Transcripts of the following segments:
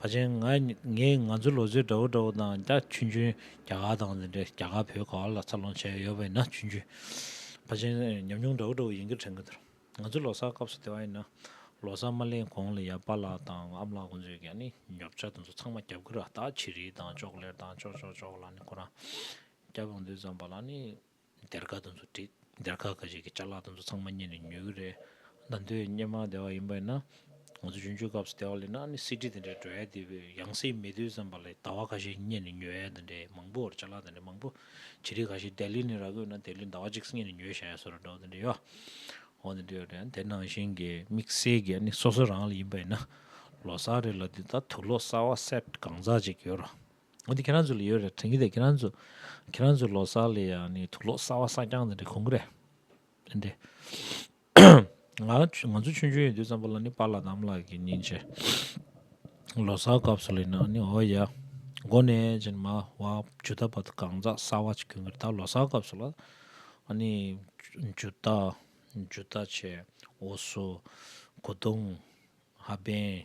བ་ཅན་ང་ངས་ང་ཚོའི་ལོ་ཚོད་འདྲ་བོ་འདྲ་བོ་དང་རྒྱ་ཆུན་ཆུན་རྒྱ་གར་དང་འདྲ་རྒྱ་གར་བོད་ག་བ་ལ་འཚར་ལོངས་བྱས་ཡོད་པ་ཡིན་ན་ཆུན་ཆུན་བ་ཅན་ཉམས་མྱོང་འདྲ་བོ་འདྲ་བོ་ཡིན་གི་དྲན་གི་འདུག་ང་ཚོའི་ལོ་སར་སྐབས་སུ་དེ་བ་ཡིན་ན་ལོ་སར་མ་གླེང་གོང་ལ་ཡང་པ་ལགས་དང་ཨམ་ལགས་ཁོང་ཚོས་ཀྱང་ནི་ཉོབ་ཆ་དེ་ཚོ་ཚང་མ་རྒྱབ་གི་ར་ད་ཆི་རིལ་དང་ཅོག་ལེར་དང་ཅོག་ཅོག་ཅོག་ལ་ནི་ཁོ་རང་རྒྱབ་ཡོང་དུས་ཙམ་པ་ལ་ནི། སྡེར་ཁ་དེ་ཚོ་བསྒྲིགས། སྡེར་ཁ་ཁ་ཤས་ཀྱི་བཅའ་ལག་དེ་ཚོ་ཚང་མ་རྙེད་ནས་ཉོས་ཀྱི་རེད། ཟླ་མདོའི་སྙེ་མ་སྡེ་བ་ཡིན་པས་ན། ང་ཚོ་ཡུན་ཆོད་སྐབས་སུ་སྡེ་བ་ལས་ན་ནི་གསེར་ཁྲི་དེ་འདྲའི་འགྲོ་ཡ་དེ་བས་ཡང་སྲིད་མེད་དུས་བསམ་པ་ལས་ཟླ་བ་ཁ་ཤས་རྙེད་ནས་ཉོས་ཡ་དེ་འདྲའི་མང་པོ་བར་བཅའ་ལག་དེ་འདྲའི་མང་པོ། བྱི་རིལ་ཁ་ཤས་སྡེ་ལི་ནས་ར་བསྐོས་ན་སྡེ་ལི་ཟླ་བ་གཅིག་རྙེད་ནས་ཉོས་བཞག་ཡ་སོ་ར་འདྲ་བ་དེ་འདྲ་ཡོད། འོ་དེ་འདྲ་ཡོད་རེད་ཡ་དེ་ནང་བཞིན་གྱི་དམིགས་བསལ་གྱི་ཡ་ནི་སོ་སོ་རང་ལ་ཡིན་པས་ན། ལོ་སར་རེ་ལ་འདི་ལྟར་དུག་ལོག་གསར་བ་སེར་གང་ཟག་ཅིག་ཡོད་རུང། འོན་ཏེ་ཁྱེད་རང་ཚོ་ལ་ཡོད་རེད་དྲན་གྱི་འདུག་ཁྱེད་རང་ཚོ་ཁྱེད་རང་ཚོའི་ལོ་སར་ལ་ཡང་ནི་དུག་ལོག་གསར་བ་སྲ་བརྐྱང་ནི་འདྲ་གོང་གི་རེད་དྲན་ཏེ། ང་ང་ཚོ་ཆུང་ཆུང་ཡོད་དུས་ཙམ་པོ་ལ་ནི་པཱ་ལགས་དམ་ལགས་ཀྱི་ཉིན་བྱེད་ལོ་སར་སྐབས་སུ་ལ་ཡིན་ན་ནི་འོ་ཡ། མགོ་ནས་ཅི་ནི་མ་བ་ཇུ་ད་བ་ད་གང་ཟག་གསར་བ་ཅིག་གྱོན་གི་རེད་ད་ལོ་སར་སྐབས་སུ་ལ་ནི་ཇུ་ད་ཇུ་ད་ཆེ་འོ་སུ་གོ་དུང་ཧ་པན་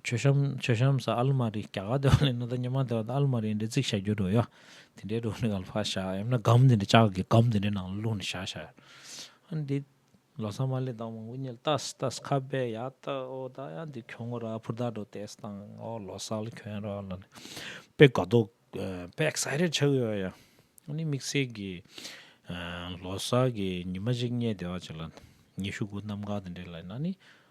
མཆོད་གཤམ་མཆོད་གཤམ་སར་ཨ་ལི་མ་རི་རྒྱ་གར་སྡེ་བ་ལས་ནོར་ད་ཉི་མ་སྡེ་བ་དང་ཨ་ལི་མ་རིའི་འབྲེལ་ཚིག་བྱ་རྒྱུ་འགྲོ་ཡ། དེ་འདྲའི་སྒྲུང་ནི་ག་ལ་ཕར་བཞག་ཡང་ན་སྒམ་དེ་འདྲ་ལྕགས་ཀྱི་སྒམ་དེ་འདྲའི་ནང་ལ་བླུགས་ནས་བཞག་བྱ། ཨ་འདི། ལོ་སར་མ་ལས་དང་མང་པོ་རྙེད་ལ་ཏཱས་ཏཱས་ཁ་བས་ཡ་ད་ཨོ་ད་ཡ་འདི་ཁྱོད་ངོ་ར་ཕུར་ད་འགྲོ་ཏཱས་དང་ཨོ་ལོ་སར་ལ་ཁྱོད་ར་ལ་ནི་དཔེ་དགའ་འདོག་དཔེ excited ཆགས་ཡོད་ཡ། ཨ་ནི་དམིགས་བསལ་གྱི། ལོ་སར་གྱི་ཉི་མ་ཞིག་རྙེད་བདེ་བ་བྱེད་ལ། ཉི་ཤུ་དགུ་གནམ་འགག་དེ་འདྲའི་ལ་ཡིན་ན་ནི།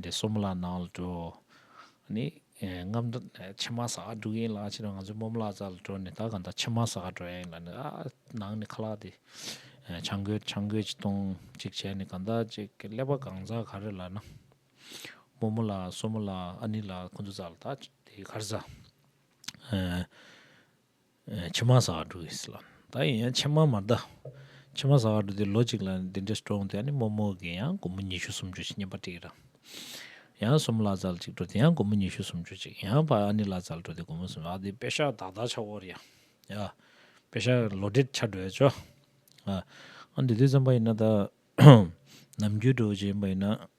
འདི་གསུམ་ལ་ནང་ལ་འགྲོ། ནི། རྔམ། ཕྱི་མ་ཟ་ཁ་འབྲུག་ཡིན་ལ་ཕྱི་རུ་ང་ཚོའི་སྨོམ་ལག་རྩ་ལ་འགྲོ་ནས་ད་གང་ལྟར་ཕྱི་མ་ཟ་ཁ་འགྲོ་ཡ་ཡིན་ལ་ནི་ཨ་ནང་ནས་ཁ་ལག་དེ། ཆང་རྒོད་ཆང་རྒོད་ཅིག་བཏུང་ཅིག་བྱས་ནས་གང་ལྟར་ཅིག་ཀླད་པ་གང་ཟ་ག་རེ་ལ་ན། རྨོ་མོ་ལ་སྲོ་མོ་ལ་ཨ་ནི་ལ་ཁོ་ཚོ་ཟ་ལ་ད་དེ་གར་ཟ། མཆི་མ་ཟ་བར་འགྲོ་གི་སླ། ད་ཡིན་ཡང་མཆི་མ་མ་བཟླ། མཆི་མ་ཟ་བར་འགྲོ་དེ་ལོ་གཅིག་ལ་འདི་འདྲའི་སྤྲོ་འོང་དེ་ཡང་ནི་མོག་མོག་གི་ཡང་དགོང་མོ་ཉི་ཤུ་སུམ་ཅུ་ཞིག་བསྙེན་པ་དྲིས་ར། ཡང་གསུམ་ལ་ཙལ་ཅིག་འགྲོ་དེ་ཡང་དགོང་མོ་ཉི་ཤུ་སུམ་ཅུ་ཅིག་ཡང་བར་ཨ་ནི་ལ་ཙལ་འགྲོ་དེ་དགོང་མོ་སུམ་ཨ་དེ་པེ་ཤག་དག་དག་ཆག་བོར་ཡ། ཡ། པེ་ཤག་ལོ་འདྲེད་ཆག་འགྲོ་ཡ་ཅོ། ཨ། ཨ་འདི་དུས་ཙམ་པ་ཡིན་ན་ད། ནམ་རྒྱུན་འགྲོ་བ་ཅིག་ཡིན་པ་ཡིན་ན།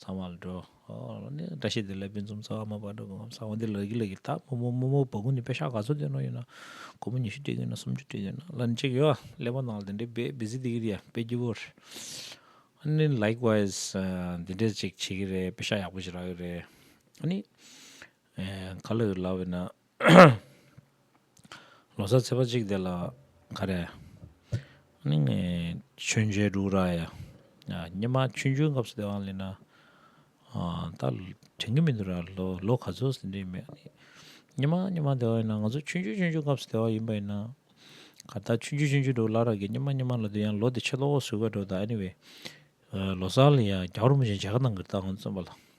ཚང་མ་ལ་འགྲོ། བཀྲ་ཤིས་བདེ་ལེགས་དཔོན་འཛོམས་ཚོགས་ཨ་མ་དཔའ་འགྲོ་དགོངས་ཚང་མ་འདི་ལགས་ཀྱི་ལགས་ཀྱི་དག་དམུ་དམུ་དམུ་བ་ཀུན་ནས་དཔེ་ཤག་ག་ཚོད་སྟོན་རོགས་གཉིས་ན་དགོང་མོ་ཉི་ཤུ་སྤྲད་གི་ཡོད་ན་སུམ་ཅུ་སྤྲད་གི་ཡོད་ན་ལ་ནི་ཅིག་ཡོད་ཨ་ཀླད་པ་ནང་ལ་དེ་འདྲའི་བེད་བེ་ཟི་སྡིག་གི་རེད་ཡ་དཔེ་སྐྱིད་པོ་རེད་ཨ་ནི་ལེགས་བ་ཨེ་ཟ་འདི་འདྲའི་ཅིག་བྱེད་གི་རེད་དཔེ་ཤག་ཡག་པོ་ཞིག་རག་གི་རེད་ཨ་ནི་ག་ལ་ཡོད་ལབ་ཡོད་ན། ལོ་སར་ཚེས་པ་གཅིག་དེ་ལ་ག་རེ། ཆོས་མཇལ་འབྲུག་ར་ཡ། སྙེ་མ་ཆུ་མཇལ་སྐབས་སུ་དེ་བ་ལེན་ན། ད་དྲན་གི་མི་འདུག་ར་ལོ་ག་ཚོད་ཟིན་དུས་མེད། སྙེ་མ་སྙེ་མ་དེ་བ་ཡིན་ན་ང་ཚོ་ཆུ་མཇལ་ཆུ་མཇལ་སྐབས་སུ་དེ་བ་ཡིན་པ་ཡིན་ན། ག་ད་ཆུ་མཇལ་ཆུ་མཇལ་འགྲོ་ལ་ར་གི་སྙེ་མ་སྙེ་མ་ལ་དུས་ཡང་ལོ་དེ་ཕྱི་ལོ་འོག་ཟུར་བ་འགྲོ་ད anyway། ལོ་སར་ལ་ཡ་རྒྱ་རུ་མི་བྱེད་འཇལ་ཁ་ནང་གི་རྟགས་ངོ་བརྩོན་པ་ལ།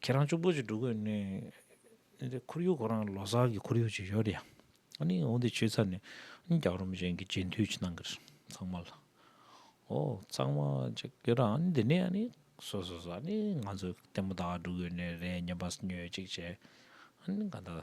ཁྱེད་རང་ཅུང་པོ་ཞིག་འགྲོ་དགོས་ནི། འདི་ཁོར་ཡུག་ཁོ་རང་ལོ་སར་གྱི་ཁོར་ཡུག་ཅིག་ཡོད་ཡ། ཨཱ་ནི་འོ་འདི་ཆོས་ཚར་ནས་རྒྱག་རོ་མི་གཞན་གྱི་རྗེས་མཐུད་ཅིག་གནང་གི་རེད་ཚང་མ་ལ། ཨོ་ཚང་མ་ཅིག་ཡོད་ར་ཨཱ་ནི་འདི་ནས་ཨཱ་ནི་སོ་སོ་སོ་ཨཱ་ནི་ང་ཚོའི་ལྟད་མོ་དག་འགྲོ་དགོས་ནི་རེད་སྙམ་པ་ཉོས་ཅིག་བྱས། ཨཱ་ནི་ག་ད།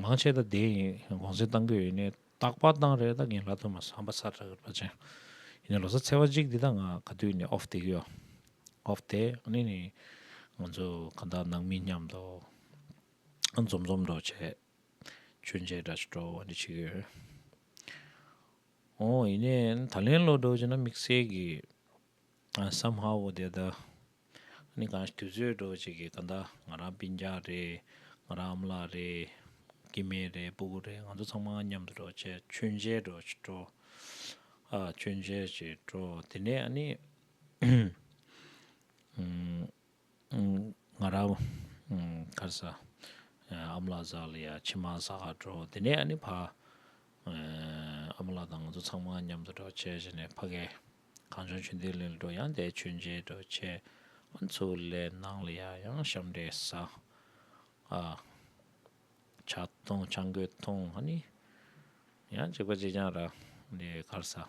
མང་ཆེ་ད་དེ་ཡིན་དགོངས་སེལ་གཏང་གི་ཡོད་ནི་རྟག་པར་གཏང་རེད་ད་གིན་ལ་དོན་མ་སངས་པ་ས་ར་ར་ཅན་ཡིན་ནི་ལོ་སར་ཚེ་བ་གཅིག་འདི་ད་ང་ག་དུས་ནས off དེ་གི་ཡོད off དེ་ནི་ནི་ང་ཚོ་ག་ད་ནང་མི་མཉམ་དུ་འཛོམས་འཛོམས་འགྲོ་བྱས་ཆོས་མཇལ་དྲ་ཕྱི་དྲོ་བ་འདི་བྱེད་གི་ཡོད་རེད་འོ་ཡིན་ནའི་ད་ལན་ལོ་འགྲོ་བྱས་ན་དམིགས་བསལ་གི་སམ་ཧ་བོ་དེ་ལྟར་ནི་གང་ཞིག་དུས་ཚོད་འགྲོ་བ་ཅིག་གིས་གང་ལྟར་ང་རང་པིན་ཅག་རེད། ང་རང་འམ་ལགས་རེད། ཀི་མེ་རེད་སྤུ་གུ་རེད་ང་ཚོ་ཚང་མ་མཉམ་དུ་འགྲོ་ཆེད་མཆོད་མཇལ་འགྲོ་འགྲོ། མཆོད་མཇལ་བྱེད་འགྲོ་དེ་ནས་ཨ་ནི། ང་རང་ཁར་ས་ཨ་མ་ལགས་བཞག་ལ་ཡ་ཕྱི་མ་ས་ག་འགྲོ་དེ་ནས་ཨ་ནི་ཕ་ཨ་མ་ལགས་དང་ང་ཚོ་ཚང་མ་མཉམ་དུ་འགྲོ་བྱས་བྱས་ནས་ཕ་གས་གངས་ལྗོངས་ཆུ་འདི་ལས་འགྲོ་ཡང་འདས་ཆུ་མཇལ་འགྲོ་བྱས་ཨ་མཚོ་ལས་ནང་ལ་ཡ་ཡང་ཞབས་འདྲེན་ས་ཨ་བྱ་མཐོང་བྱ་འགོད་མཐོང་ཨ་ནི་ཡང་བྱས་པ་བྱས་ཀྱང་ར་ནས་ཁར་ས།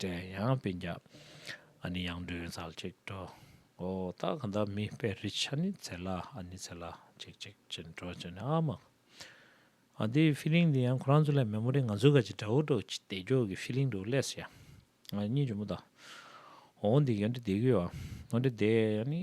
དྲན་ཡང་དཔེ་བརྒྱ། ཨ་ནི་ཡང་སྒྲོན་ཚར་གཅིག་འགྲོ། ཨོ་སྟག་ག་འདབ་མི་དཔེ་རི་ཆ་ནི་ཚེ་ལ་ཨ་ནི་ཚེ་ལ་གཅིག་གཅིག་གཅིག་འགྲོ་ཅི་ནི་ཨ་མ། ཨ་འདིའི feeling འདི་ཡང་ཁོ་རང་ཚོ་ལས་མེད་མོ་རེད་ང་ཚོའི་ག་ཅི་འདྲ་བོ་འགྲོ་ཅི་བདེ་འགྱོག་གི feeling འདུག་ལས་སོ་ཡ། ཨ་གཉིས་འཇོན་མོ་ད། ཨོ་འདི་ཡང་འདྲི་བདེ་གི་ཨོ་འདྲི་བདེ་ཨ་ནི།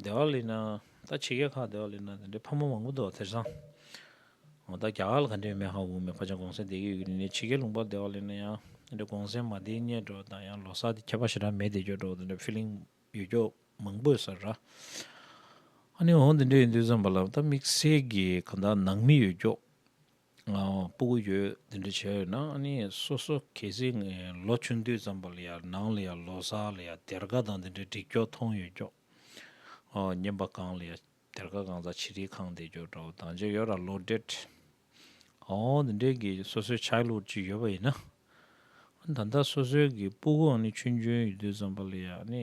སྡེ་བ་ལས་ན་ད་ཆེ་རྒྱལ་ཁག་སྡེ་བ་ལས་ན་དེ་འདྲའི་ཕ་མ་མང་པོ་འདུག་དེར་སང་ད་རྒྱ་གར་ལ་ག་འདྲའི་མེ་ཧ་འུ་མེ་ཕ་ཅང་གོང་སེང་དེ་གའི་ཡུལ་ནས་ཆེ་རྒྱལ་ལུང་པ་སྡེ་བ་ལས་ན་ཡང་དེ་འདྲའི་གོང་སེང་མ་དེའི་གཉེན་འགྲོ་དང་ཡང་ལོ་སར་དེ་ཁྱད་པར་ཞེ་དྲག་མེད་དེ་སྐྱོ་གྲོགས་དེ་འདྲའི feeling ཡོད་སྐྱོ་མང་པོས་སར་ར་ཨ་ནི་འོ་དེ་འདྲའི་ཡིན་དུས་བསམ་པ་ལ་ད་དམིགས་བསལ་གྱི་གང་དག་ནང་མི་ཡོད་སྐྱོ། སྤུ་གུ་ཡོད་དེ་འདྲ་བྱས་ཡོད་ན་ཨ་ནི་སོ་སོ་གལ་སྲིད་ལོ་ཆུང་དུས་ཙམ་པ་ལ་ཡང་ནང་ལ་ཡང་ལོ་སར་ལ་ཡང་སྡེར་ཁ་དང་དེ་འདྲའི་འགྲིག་འགྱོག་མཐོང་ཡོད་འགྱོག་བརྙན་པ་གང་ལ་ཡང་སྡེར་ཁ་གང་ཟག་ཕྱི་དྲིལ་ཁང་བསྡད་འགྱོག་འདྲ་བོ་དང་བྱས་ཡོད་ར་ལོ་འདྲེད་འོང་དེ་འདྲའི་གི་སོ་སོའི་ཆགས་ལུགས་ཅིག་ཡོད་པ་ཡིན་ན་ད་ལྟ་སོ་སོའི་གི་སྤུ་གུ་ཨ་ནི་ཆུང་ཆུང་ཡོད་དུས་ཙམ་པ་ལ་ཡང་ཨ་ནི་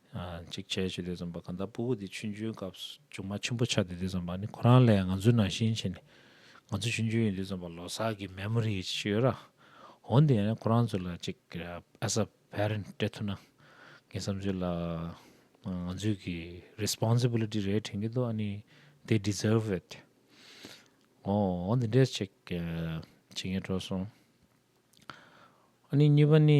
གཅིག་བྱས་ཆུ་ལས་འཛོམས་པ་གང་དག་སྤུ་བོ་དེ་ཆུ་འཇོའི་སྐབས་སུ་ལྗོངས་མ་ཆེན་པོ་ཆགས་ཏེ་དེ་འཛོམས་པ་ནི་ཁོ་རང་ལས་ང་ཚོའི་ནང་བཞིན་ཆེ་ནས་ང་ཚོ་ཆུ་འཇོའི་ཡུལ་འདི་འཛོམས་པ་ལོ་སར་གྱི་མེ་མོ་རི་ཡི་ཆེ་ཡོད་ར་འོང་དེ་ཡིན་ན་ཁོ་རང་ཚོ་ལ་གཅིག as a parent སྤྲད་ཐུབ་ན་ངའི་བསམ་ཚུལ་ལ་ང་ཚོའི་གི responsibility རེད་དྲན་གྱི་འདུག་ཨ་ནི they deserve it འོང་འོང་དེ་འདྲས་ཅིག་བྱེད་ངེས་འགྲོ་སོང་ཨ་ནི་གཉིས་པ་ནི།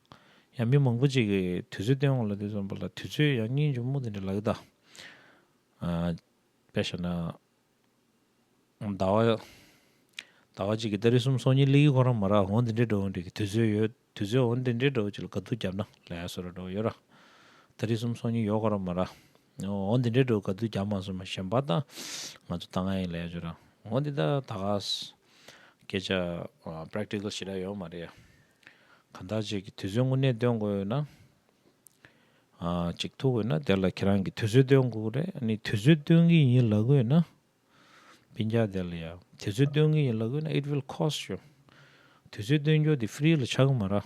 ཡང་མི་མང་པོ་ཅིག་གིས་དུས་ཚོད་སྟོན་འོང་ལ་དེ་ཚོ་འབོད་ལ་དུས་ཚོད་ཡང་སྙིང་ཅུང་རྨུགས་དེ་འདྲ་ལག་གི་དང། དཔེར་བཤད་ན། ཟླ་བ། ཟླ་བ་གཅིག་གི་ལྟ་རི་གསུམ་སོ་གཉིས་གླིག་གི་ཁོ་རང་མ་རག་འོང་དེ་འདྲའི་འགྲོ་འོང་འདྲེ་གི་དུས་ཚོད་ཡོད་དུས་ཚོད་འོང་དེ་འདྲའི་འགྲོ་ཅིག་ལ་དགའ་སྡུག་རྒྱབ་ན་ལེ་ཧ་སོ་ར་འགྲོ་ཡོད་ར། ལྟ་རི་གསུམ་སོ་གཉིས་ཡོད་ཁོ་རང་མ་རག་འོང་དེ་འདྲའི་འགྲོ་དགའ་སྡུག་རྒྱབ་མ་སོ་མ་གཞན་པ་ད་ང་ཚོ་ལྟ་ང་ཡིན་ལེ་ཧ་ཅོ་ར་འོང་དེ་ད་ད་ག་ས་སྐད་ཆ Practical ཞེ་དྲག་ཡོད་མ་རེད་ཡ། གང་དག་ཅིག་གིས་དུས་ཚོད་དངོས་གནས་སྟོན་དགོས་ན། ཅིག་ཐུག་དགོས་ན་དེ་ལ་ཁྱེད་རང་གིས་དུས་ཚོད་སྟོན་དགོས་ཀྱི་རེད། ནི་དུས་ཚོད་སྟོན་གྱི་ཡིན་ལབ་དགོས་ན། བྷིན་ཇཱ་དེ་ལ་ཡང་དུས་ཚོད་སྟོན་གྱི་ཡིན་ལབ་དགོས་ན it will cost you དུས་ཚོད་སྟོན་རྒྱུ་དེ free ལ་ཆགས་ཀྱི་མ་རེད།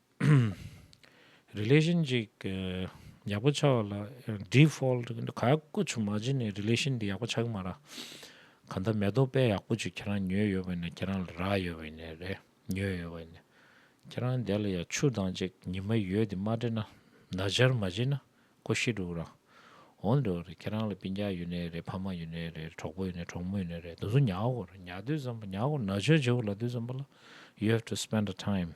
Relation ཅིག་ཡག་པོ་ཆགས་ལ Default ག་དཀོན་ཆུ་མ་བྱིན་ནས Relation དེ་ཡག་པོ་ཆགས་ཀྱི་མ་རག་ག་མཐའ་མེ་ཏོག་དཔེ་ཡག་པོ་ཅིག་ཁྱེད་རང་ཉོས་ཡོད་པས་ན་ཁྱེད་རང་ལ་རག་ཡོད་པས་ནས་རེད་ཉོས་ཡོད་པས་ནས་ཁྱེད་རང་དེ་ལ་ཡང་ཆུ་དང་ཅིག་ཉི་མ་ཡོད་དེ་མ་འདྲེས་ན་ན་སྦྱར་མ་བྱིན་ན་ཀོ་ཤི་འགྲོ་གི་རང་འོང་འགྲོ་གི་རེད་ཁྱེད་རང་ལ་པིན་རྒྱག་ཡོད་ནས་རེད་ཕ་མ་ཡོད་ནས་རེད་གྲོགས་པོ་ཡོད་ནས་གྲོགས་མོ་ཡོད་ནས་རེད་དུ་སུ་ཉག་གོ་རེད་ཉག་དུས་བསམ་པ་ཉག་གོ་ན་ཆོས་བྱེད་གོ་ལ་དུས་བསམ་པ་ལ you have to spend the time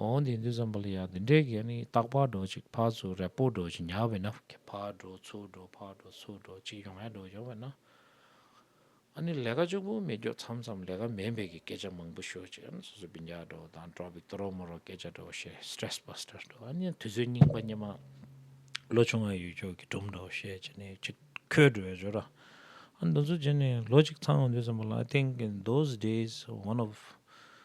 འོང་དེ་འདི་ཙམ་པ་ལ་ཡང་འདི་འདྲའི་གེགས་ནི་རྟག་ཕར་འགྲོ་ཅིག་ཕར་ཚུར་རེ་སྤོ་འགྲོ་ཅིག་ཉག་བས་ན། ཕར་འགྲོ་ཚུར་འགྲོ་ཕར་འགྲོ་ཚུར་འགྲོ་ཅིག་ཡོང་ཡ་འགྲོ་ཡོང་བས་ན། ཨ་ནི་ལས་ཀ་ལྕུག་པོ་མི་རྒྱོ་ཚམ་ཚམ་ལས་ཀ་མེད་འབད་ཀྱི་སྐད་ཆ་མང་པོ་ཤོད་ཅིག་ཨ་ནི་སོ་སོ་བིན་ཇག་འགྲོ་དང་འགྲོ་བིག་ཏོ་རོ་མོ་རོ་སྐད་ཆ་འགྲོ་བཤད Stress Buster འགྲོ་ཨ་ནི་དུས་ཚོད་རྙིང་པ་སྙེ་མ་ལོ་ཆུང་བའི་ཡུལ་ཕྱོགས་ཀྱི་སྒྲོམ་འགྲོ་བཤད་ཅི་ནས་ཅི་ཁོས་འགྲོ་བའི་འཇོ་ར་ཨ་ནི་འདུ་འཛོ་ཅི་ནས་ལོ་ཅིག་ཚང་འོང་འདི་ཙམ་པ་ལ I think in those days one of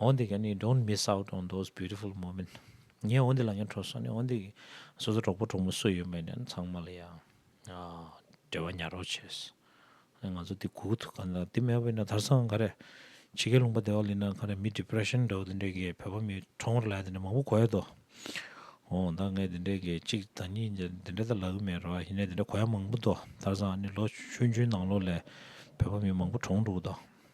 འོ་འདི་ག་ནི Don't miss out on those beautiful moment ངས་འོ་འདི་ལ་ཡང་འཕྲོ་སོང་ནས་འོ་འདི་གི་སོ་སོ་གྲོགས་པོ་གྲོགས་མོ་སུ་ཡོད་མེད་ནས་ཚང་མ་ལ་ཡང་འབྲེལ་བ་ཉར་རོགས་བྱས། ང་ཚོ་འདི་གོ་གི་འདུག་ག་འདི་མེད་པའི་ན་དར་ས་གང་ག་རེ་ཕྱི་རྒྱལ་ལུང་པ་བདེ་བ་ལེན་ན་ག་རེ་མི depression འདྲ་བོ་འདི་འདྲའི་གི་བོད་པ་མི་ཁྲོ་ངོར་ལས་འདི་འདྲ་མང་པོ་གོ་ཡོད་དོ། འོ་ད་ངས་འདི་འདྲའི་གི་གཅིག་དང་གཉིས་འདི་འདྲ་ད་ལབ་གི་མེད་རོ་ཡིན་ནས་འདི་འདྲ་གོ་ཡ་མང་པོ་འདུག་དར་ས་ག་ནི་ལོ་ཆུང་ཆུང་ནང་ལོགས་ལས་བོད་པ་མི་མང་པོ་གྲོངས་འདུག་གདོ།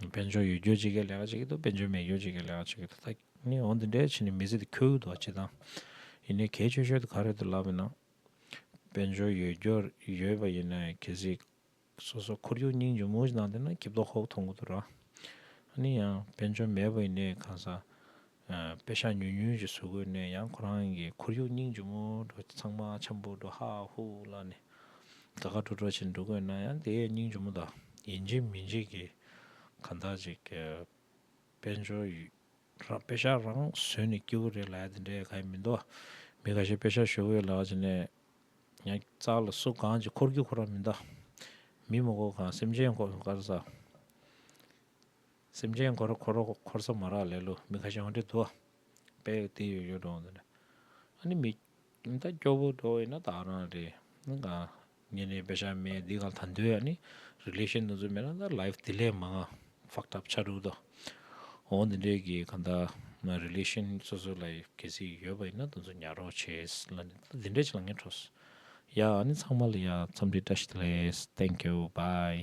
དཔལ་འབྱོར་ཡོད་རྒྱུར་ཇི་སྐད་ལས་ཀ་བྱེད་ཀྱི་འདུག་དཔལ་འབྱོར་མེད་རྒྱུར་ཇི་སྐད་ལས་ཀ་བྱེད་ཀྱི་འདུག་ད་ནི་འོང་དེ་འདྲའི་ཕྱི་ནས་མི་ཟིག་དེ་ཁྱོད་ཀྱི་འདུག་བ་བྱེད་དང། ཡིན་ནས་གལ་ཆེ་ཤོས་དེ་ག་རེད་དུ་ལབ་པའི་ནང། དཔལ་འབྱོར་ཡོད་རྒྱུར་ཡོད་པ་ཡིན་ནའི་གལ་སྲིད། སོ་སོ་ཁོར་ཡུག་སྙིང་ཇོ་མོ་ཞིག་ནང་དེ་ན་གྱིབ་དོག་ཧོག་དོག་འགོ་འདུག་ར། ཡིན་ཡང་དཔལ་འབྱོར་མེད་པ་ཡིན་ནའི་གང་ཟག། དཔེ་ཤ་ཉུལ་ཉུལ་གྱི་ཟུར་བཀོལ་ནས་ཡང་ཁོ་རང་གི་ཁོར་ཡུག་སྙིང་རྗེ་མོ་འགྲོ་ཚང་མ་འཆམ་པོ་འགྲོ་ཧ་ཧུ་ལ་ནས་དགའ་དགའ་སྤྲོ་སྤྲོ་བྱེད་འགྲོ་དགོས་ན་ཡང་དེའི་སྙིང་རྗེ་མོ་དང་ཡིན་གཅིག་མིན་གཅིག་གི་གང་ཟག་ཅིག་གི་དཔལ་འབྱོར་དཔེ་ཤ་རང་བཟོས་ནས་སྐྱེ་བོ་རེ་ལ་དེ་འདྲའི་ག་ཡིན་མི་འདུག་མི་ག་ཤེད་དཔེ་ཤ་ཞོ་བོའི་ལག་བྱས་ནས་ཡང་རྩ་ལ་སོ་གང་གྱི་འཁོར་རྒྱུག་ཁོ་རང་མི་འདུག་མི་མོ་གོ་གང་སེམས་ཅན་གོ་གང་ཟག། སེམས་ཅན་འཁོར་འཁོར་རོ་འཁོར་ས་མ་རག་ལེ་ལོ་མི་ཁ་ཤང་དྲི་རྡོ། དཔལ་ཏི་ཡོ་ཡོ་འབྲོང་དང། ཨ་ནི་མི། ད་སྐྱོ་བོ་འགྲོ་བས་ན་བདག་རང་རེད། གང། ཉེ་གནས་དཔེ་ཆ་མེད་འདི་གང་ད་འདོད་ཨ་ནི། relation འདི་ཚོ་མེད་ན་ད life དེ་ལས་མ་འང fucked up ཆགས་འགྲོ་གི། འོ་འདི་འདྲས་ཀྱི་གང་ད། relation སོ་སོ་ལ་གལ་སྲིད་ཡོད་པ་ཡིན་ན་དེ་ཚོ་ཉར་རོགས་བྱེད། འདི་འདྲས་ཆེ་ལ་ངས་ཁྲོ། ཡ་ཨ་ནི་ཚང་མ་ལ་ཡ་འཚམས་འདྲི་བཀྲ་ཤིས་བདེ་ལེགས། thank you bye།